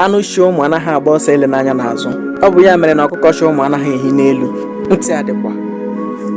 anụ chị ụmụ anaghị agba ọsọ ele n'anya n'azụ ọ bụ ya mere na ọkụkọ chị ụmụ anaghị ehi n'elu ntị adịkwa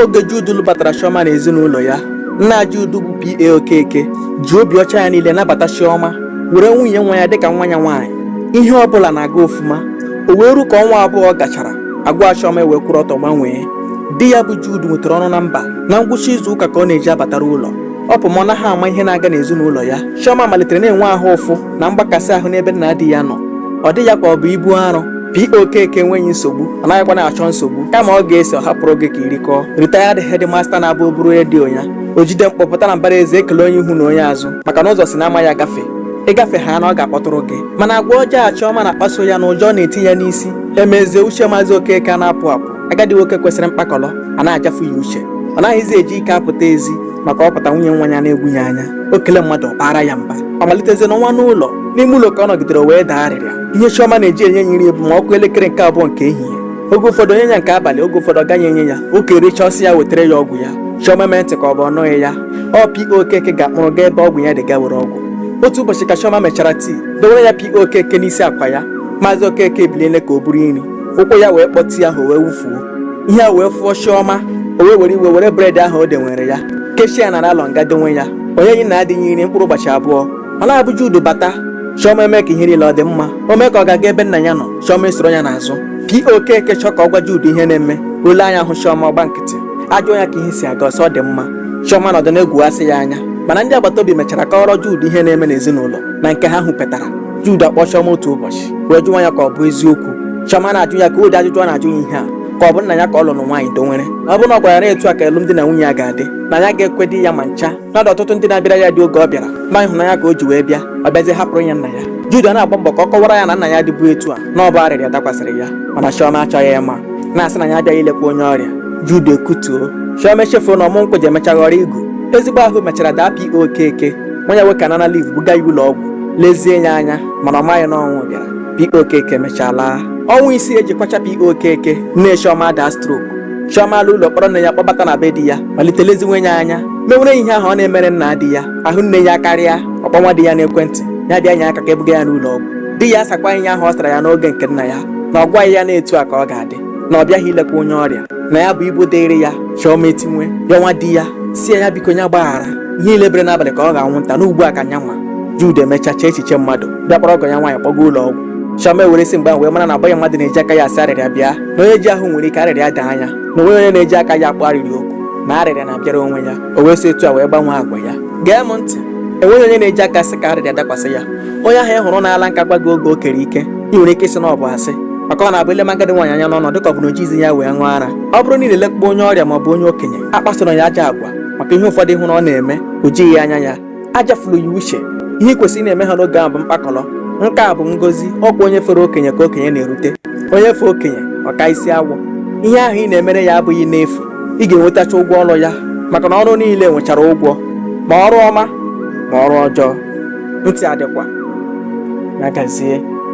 oge Jude lụbatara Chioma na ezinụlọ ya nna Jude bụ PA Okeke ji obi ọcha ya niile nabata Chioma were nwunye nwa ya dịka nwa ya nwaanyị ihe ọ bụla na-aga ofuma o wee ru ka ọnwa abụọ gachara agwa Chioma ewee kwụrụ ọtọ gbanwee di ya bụ Jude nwetara ọrụ na mba na ngwụcha izu ụka ka ọ na-eji abatara ụlọ ọ pụọ ma ọ naghị ama ihe na-aga n'ezinụlọ ya Chioma malitere na-enwe ahụ ụfụ na mgbakasị ahụ n'ebe nna di ya nọ ọ dị ya ka ọ bụ ibu arụ PO Okeke enweghị nsogbu ọ naghịkwa na-achọ nsogbu kama ọ ga-ese ọ hapụrụ gị ka i rikọọ retired headmaster na-abụ o buru redio ya o jide mkpọ pụta na mbara ezi ekele onye ihu na onye azụ maka na ụzọ si na ama ya gafe ị gafe ha na ọ ga-akpọtụrụ gị mana agwa ọjọọ Chioma na-akpaso ya na ụjọ na-eti ya n'isi emezie uche maazị Okeke ana-apụ apụ agadi nwoke kwesịrị mkpakọrọ a na-ajafu ya uche ọ naghịzi eji ike apụta ezi maka ọ pụta nwunye nwa ya na-egwu ya anya o kele mmadụ ọ baara ya mba ọ malitezie nọwa n'ụlọ n'ime ụlọ ka ọ nọgidere wee daa arịrịa ihe chiọma na-eji enye ya nri bụ ma ọ kụọ elekere nke abụọ nke ehihie oge ụfọdụ o nye ya nke abalị oge ụfọdụ ọ gaghị enye ya Okeke richaa sị ya wetara ya ọgwụ ya chiọma mee ntị ka ọ bụ ọ nụghị ya PO Okeke ga-akpụrụ gaa ebe ọgwụ ya dị ga were ọgwụ otu ụbọchị ka chiọma mechara tii dowere ya PO Okeke n'isi akwa ya maazị okeke ebiliele ka o buru nri ụkwụ ya wee kpọọ tii ahụ wee wufuo ihe a wee fụọ chiọma o wee were iwe were bred ahụ o dewere ya kechie ya na naịlọn ga dowe ya o nyeghị nna di ya nri mkpụrụ ụbọchị abụọ ọ na-abụ Jude bata chiọma eme ka ihe niile ọ dị mma o mee ka ọ ga-aga ebe nna ya nọ chiọma esoro ya n'azụ PO Okeke chọọ ka ọ gwa Jude ihe na-eme o lee anya hụ chiọma ọ gba nkịtị a jụọ ya ka ihe si aga ọ sị ọ dị mma chiọma nọdụ na-egwughasị ya anya mana ndị agbata obi mechara kọọrọ Jude ihe na-eme n'ezinụlọ na nke ha hụpetara Jude akpọọ Chioma otu ụbọchị wee jụwa ya ka ọ bụ eziokwu Chioma ana-ajụ ya ka ụdị ajụjụ ọ na-ajụ ya ihe a ka ọ bụ nna ya ka ọ lụrụ nwaanyị dowere ọ bụrụ na ọ gwara ya etu a ka alụmdi na nwunye ya ga-adị na ya agaghị ekwedị ya ma ncha na ọtụtụ ndị na-abịara ya di oge ọ bịara ma ịhụnanya ka o ji wee bịa ọ bịazie hapụrụ ya nna ya Jude na-agba mbọ ka ọ kọwara ya na nna ya adịbughị etu a na ọ bụ arịrịa dakwasịrị ya mana Chioma achọghị ịma na-asị na ya abịaghị ilekwa onye ọrịa Jude ekutuo Chioma echefuo na ọmụ nkwụ ji emecha ghọrọ igu ezigbo ahụ mechara daa PO Okeke nwa ya nwoke anara liv buga ya ụlọ ọgwụ lezie ya anya mana ọ maghị na ọnwụ bịara P.O. Okeke mechaa laa ọnwa isii e ji kwachaa P.O. Okeke nne Chioma adaa strok Chioma ala ụlọ kpọrọ nne ya kpọbata na be di ya malite leziwe ya anya mewere ya ihe ahụ ọ na-emere nna di ya ahụ nne ya akarịa ọ kpọwa di ya n'ekwentị ya bịa nye aka ka e buga ya n'ụlọ ọgwụ di ya asakwa ihe ahụ ọ sara ya n'oge nke nna ya na ọ gwaghị ya na etu a ka ọ ga-adị na ọ bịaghị ilekwa onye ọrịa na ya bụ ibu dịrị ya chiọma etinwe ya nwa di ya sị ya biko ya gbaghara ihe niile bere n'abalị ka ọ ghọọ anwụnta na ugbu a ka nya nwa Jude emechacha echiche mmadụ bịa kpọrọ ọgọ ya nwaanyị kpọga ụlọ ọgwụ chiọma ewere si mgbe ahụ wee mara na ọ bụghị mmadụ na-eji aka ya asị arịrịa bịa na onye ji ahụ nwere ike arịrịa dị anya na o nweghị onye na-eji aka ya akpọ arịrịa oku na arịrịa na-abịara onwe ya o wee si etu a wee gbanwee agwa ya gee m ntị enweghị onye na-eji aka sị ka arịrịa dakwasị ya onye ahụ ị hụrụ n'ala nka gwa gị oge o kere ike ị nwere ike ịsị na ọ bụ asị maka ọ na-abụ e lema agadi nwaanyị anya n'ọnụ dịka ọ bụ na o jighị ya wee ṅụọ ara ọ bụrụ na i lelekpọọ onye ọrịa ma ọ bụ onye okenye a kpasoro ya ajọ agwa maka ihe ụfọdụ ị hụrụ ọ na-eme o jighị anya ya aja furu ya uche ihe ị kwesịrị ịna-eme ha n'oge ahụ bụ mkpakọrọ nke a bụ ngozi ọ kwa onye fere okenye ka okenye na-erute onye fee okenye ọ kaa isi awọ ihe ahụ ị na-emere ya abụghị n'efu ị ga-enwetacha ụgwọ ọrụ ya maka na ọrụ niile nwechara ụgwọ ma ọrụ ọma ma ọrụ ọjọọ ntị adịkwa na gazie